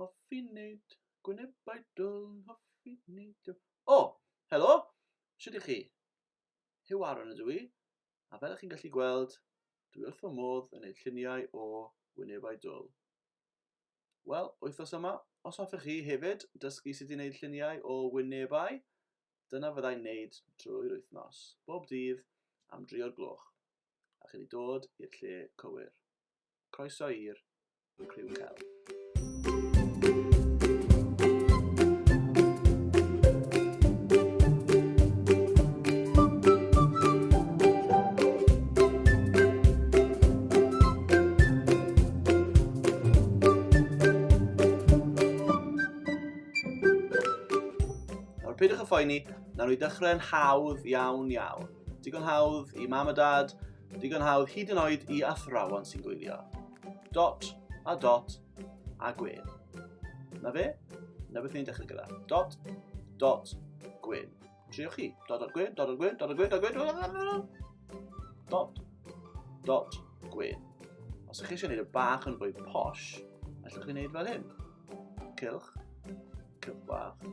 Hoffi wneud gwynebau dwl, hoffi wneud y... O! Helo! Sut ych chi? Huw Aaron ydw i, a fel ych chi'n gallu gweld, dwi wrth fy modd yn gwneud lluniau o wynebau dwl. Wel, wythnos yma, os hoffech chi hefyd dysgu sut i wneud lluniau o wynebau, dyna fyddai'n wneud drwy'r wythnos, bob dydd am dri o'r gloch. a chi wedi dod i'r lle cywir. Croeso i'r Criw Cel. Nawr, peidiwch y phoeni, nawr i ddechrau'n hawdd iawn iawn. Digon hawdd i mam a dad, digon hawdd hyd yn oed i athrawon sy'n gwylio. Dot a dot a gwyn. Na fe? Na beth ni'n dechrau gyda. Dot, dot, gwyn. Triwch chi. Dot, dot, gwyn, dot, dot, gwyn, dot, dot, gwyn, dot, gwyn, dot, gwyn, dot, dot, gwyn. Os ydych chi eisiau gwneud y bach yn fwy posh, allwch chi wneud fel hyn. Cilch, cilch bach,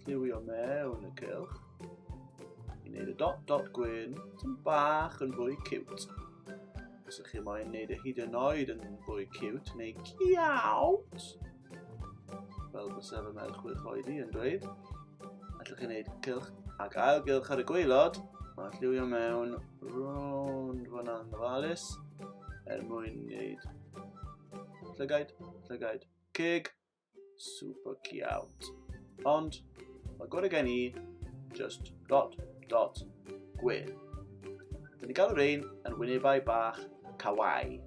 lliwio mewn y cilch, I wneud y dot dot gwyn, tyn bach yn fwy cute. Os ydych chi moyn wneud y hyd yn oed yn fwy cute, neu ciawt, fel bys efo mewn chwech oed i yn dweud, allwch chi wneud cylch ac ail gylch ar y gweilod, mae'n lliwio mewn rond fyna'n ofalus er mwyn wneud llygaid, llygaid, cig, Super ciawt. Ond, mae gorau gen i, just dot, dot, gwyn. Dyn ni galw rein yn wynebau bach kawaii.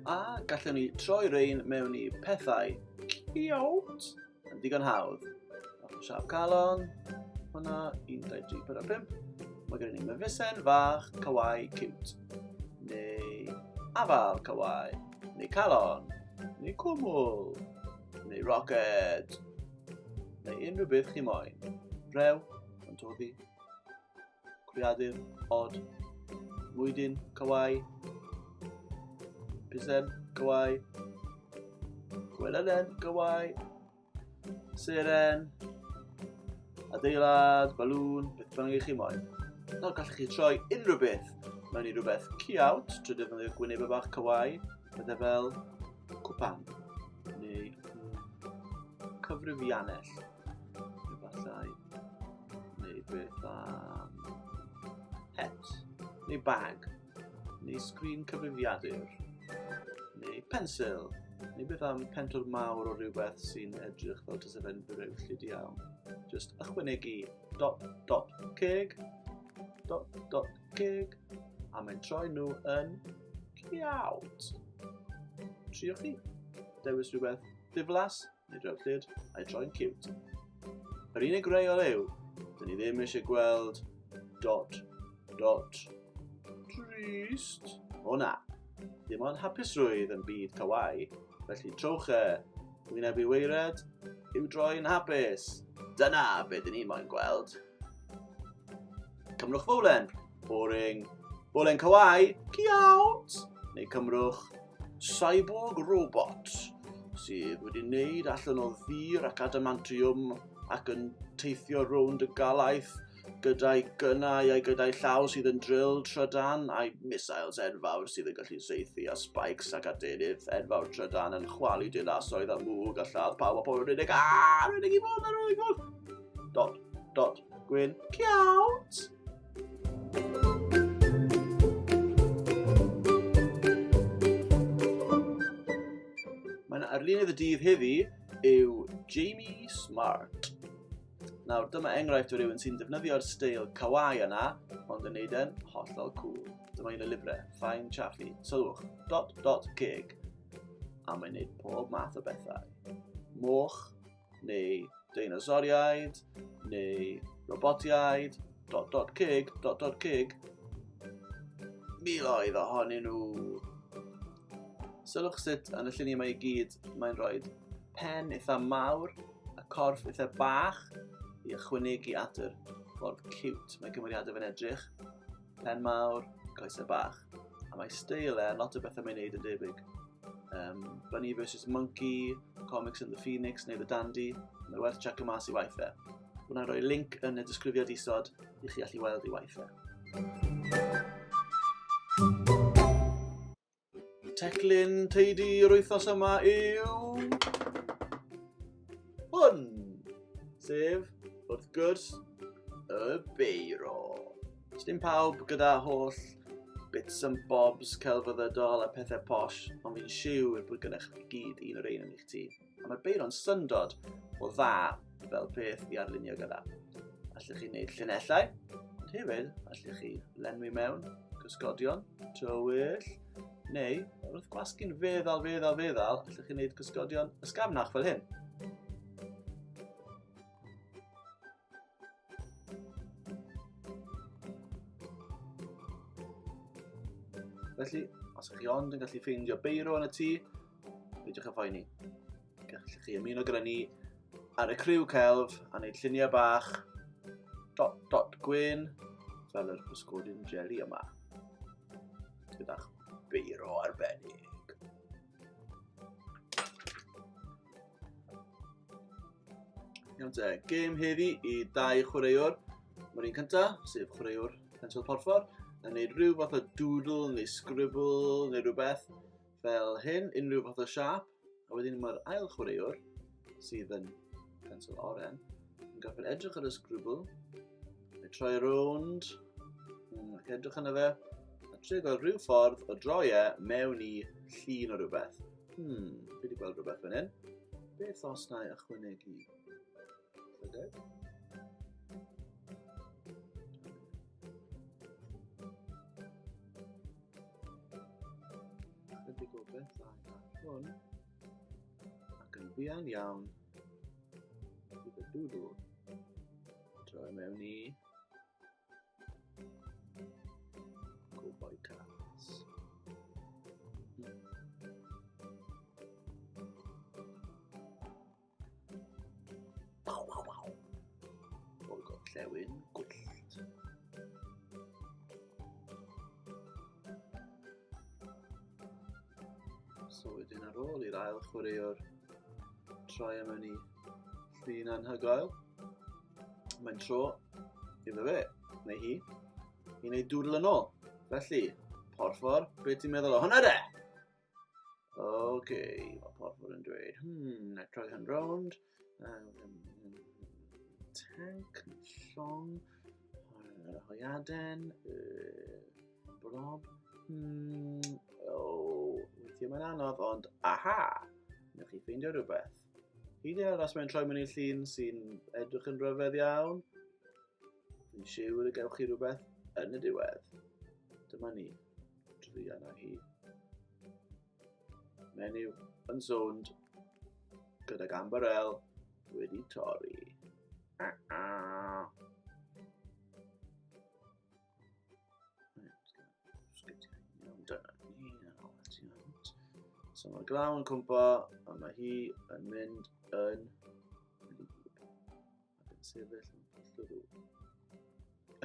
A gallwn ni troi rein mewn i pethau ciawt. Yn digon hawdd. Ochr siarp calon. Hwna, 1, 2, 3, 4, 5. Mae gen i myfisen fach, cywau, cute. Neu afal cywau. Neu calon. Neu cwmwl. Neu roced. Neu unrhyw beth chi moyn. Rew, yn toddi. creadur odd. Mwydyn Cawai. Pisen Cawai. Gwelelen Cawai. Seren. Adeilad, balŵn, beth bynnag i chi moyn. Nawr gallwch chi troi unrhyw beth mewn i rhywbeth ciawt trwy ddefnyddio gwyneb y bach cywau, bydde fel cwpan neu cyfrifiannell efallai. Neu beth am... Het. Neu bag. Neu sgrin cyfrifiadur. Neu pensil. Neu beth am pentwr mawr o rhywbeth sy'n edrych fel tysefen breullyd iawn. Just ychwanegu dot dot ceg, dot dot ceg, a mae'n troi nhw yn ciawt. Triwch chi. Dewis rhywbeth ddiflas Neu drewch llyd, a'i troi'n cute. Yr unig reol yw, dyn ni ddim eisiau gweld dod, dod. Trist. O na, dim ond hapusrwydd yn byd cawai, felly trowch e, wyneb i weired, i'w droi'n hapus. Dyna be dyn ni moyn gweld. Cymrwch fowlen! Boring. Bolen Kawaii, ciawt! Neu cymrwch Cyborg Robot, sydd wedi wneud allan o ddur ac adamantiwm ac yn teithio rownd y galaeth gyda'i gynnau a'i gyda'i llaw sydd yn drill trydan a'i missiles enfawr sydd yn gallu seithi a spikes ac adenydd enfawr trydan yn chwalu dinasoedd a mwg a lladd pawb a pobl yn unig a rwy'n i fod ar ôl i fod dod dod gwyn ciawt Mae'n arlunydd y dydd heddi yw Jamie Smart. Nawr, dyma enghraifft o rywun sy'n defnyddio'r steil kawaii yna, ond yn neud e'n hollol cool. Dyma un o lyfrau, Fine Chaffee, sylwch, dot dot ceg, a mae'n neud pob math o bethau. Moch, neu deinosoriaid, neu robotiaid, dot dot cig, dot dot cig, miloedd ohonyn nhw. Sylwch sut yn y lluniau mae i gyd mae'n rhoi pen eitha mawr a corff eitha bach i ychwanegu at yr ffordd cute mae cymeriadau fe'n edrych. Pen mawr, coesau bach. A mae steil e, lot o bethau mae'n neud yn debyg. Um, Bunny vs Monkey, Comics and the Phoenix neu The Dandy, mae werth check y mas i waith e. Wna roi link yn y disgrifiad isod i chi allu weld i waith e. Y teclyn teidi yr wythnos yma yw... Hwn! Sef, wrth gwrs, y beiro. Sdim pawb gyda holl bits and bobs celfyddydol a pethau posh, ond fi'n siŵr bod gennych chi gyd un o'r ein yn eich tŷ. A mae'r beiro'n syndod o dda fel peth i arlunio gyda. Allwch chi wneud llinellau, ond hefyd allwch chi lenwi mewn cysgodion, tywyll, neu wrth gwasgu'n feddal, feddal, feddal, allwch chi wneud cysgodion ysgafnach fel hyn. Felly, os ydych chi ond yn gallu ffeindio beiro yn y tŷ, peidiwch â phoeni. Gallwch chi ymuno gyda ni ar y criw celf a wneud lluniau bach dot dot gwyn fel yr pysgodyn jeli yma. Gyda'ch beiro arbennig. Iawn te, gêm heddi i dau chwaraewr. Mae'r un cyntaf, sef chwaraewr Pensil Porffor, yn gwneud rhyw fath o doodle neu scribble neu rhywbeth fel hyn, unrhyw fath o siap. A wedyn mae'r ail chwaraewr sydd yn pencil oren, yn gorfod edrych ar y sgrwbl, a troi rownd, ac edrych yna fe, a trio gweld rhyw ffordd o droi e mewn i llun o rhywbeth. Hmm, fi wedi gweld rhywbeth fan hyn. Beth os na i ychwanegu llygad? Ydy gwybeth dda hwn. Ac yn fuan iawn, bydd y dwdw yn troi mewn i cowboy cats. Waw, waw, waw. O'r gorllewin gwyllt. So wedyn ar ôl i'r ail chwaraewr troi am hynny llun anhygoel, mae'n tro iddo fe, neu hi, i wneud dŵr yn ôl. Felly, porfor, beth ti'n meddwl o hwnna de? Ok, mae porfwr yn dweud, hmm, na troi hyn rownd. Tank, llong, yr hoiaden, blob. Hmm, o, weithio mae'n anodd, ond aha! Nwch chi ffeindio rhywbeth. Hyd yn oed os mae'n troi mewn i'r llun sy'n edrych yn rhyfedd iawn, yn siŵr y gewch chi rhywbeth yn y diwedd. Dyma ni. Druan a hi. Menyw yn sownd gydag ambarel wedi torri. A -a. So mae glaw yn cwmpa a mae hi yn mynd yn ac yn sefyll yn hollol ddrwg.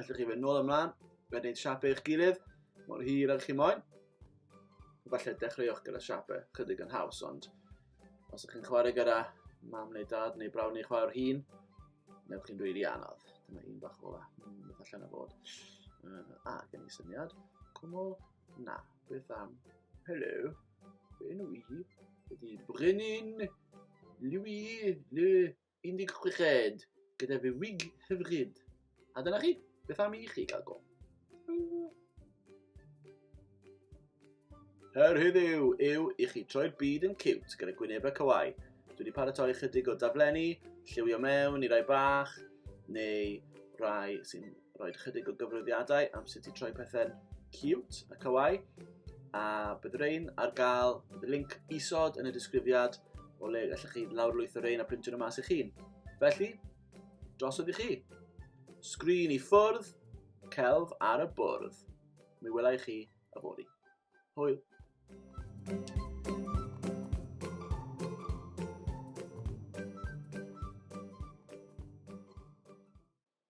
Allwch chi fynd nôl ymlaen, wedyn siapau eich gilydd, mor hir ag chi moyn. Falle dechreuwch gyda siapau chydig yn haws, ond os ydych chi'n chwarae gyda mam neu dad neu brawn neu chwarae'r hun, newch chi'n rili anodd. Dyma un bach ola, mm, beth allan o fod. Uh, a, gen i syniad. Cwmol, na, beth am? Hello, fe nhw i, ydy Brennan, Louis, le, 16 oed gyda fy wig hyfryd. A dyna chi, beth am i chi gael go? Her heddiw yw i chi troi'r byd yn cute gyda gwynebau cywai. Dwi wedi paratoi chydig o daflenni, lliwio mewn i rai bach, neu rai sy'n rhoi chydig o gyfrifiadau am sut i troi pethau'n cute a kawaii, a bydd rein ar gael, bydd link isod yn y disgrifiad o le gallwch chi lawrlwytho rein a printio nhw mas i chi. Felly, drosodd i chi. Sgrin i ffwrdd, celf ar y bwrdd. Mi welai chi y fori. Hwyl! thank you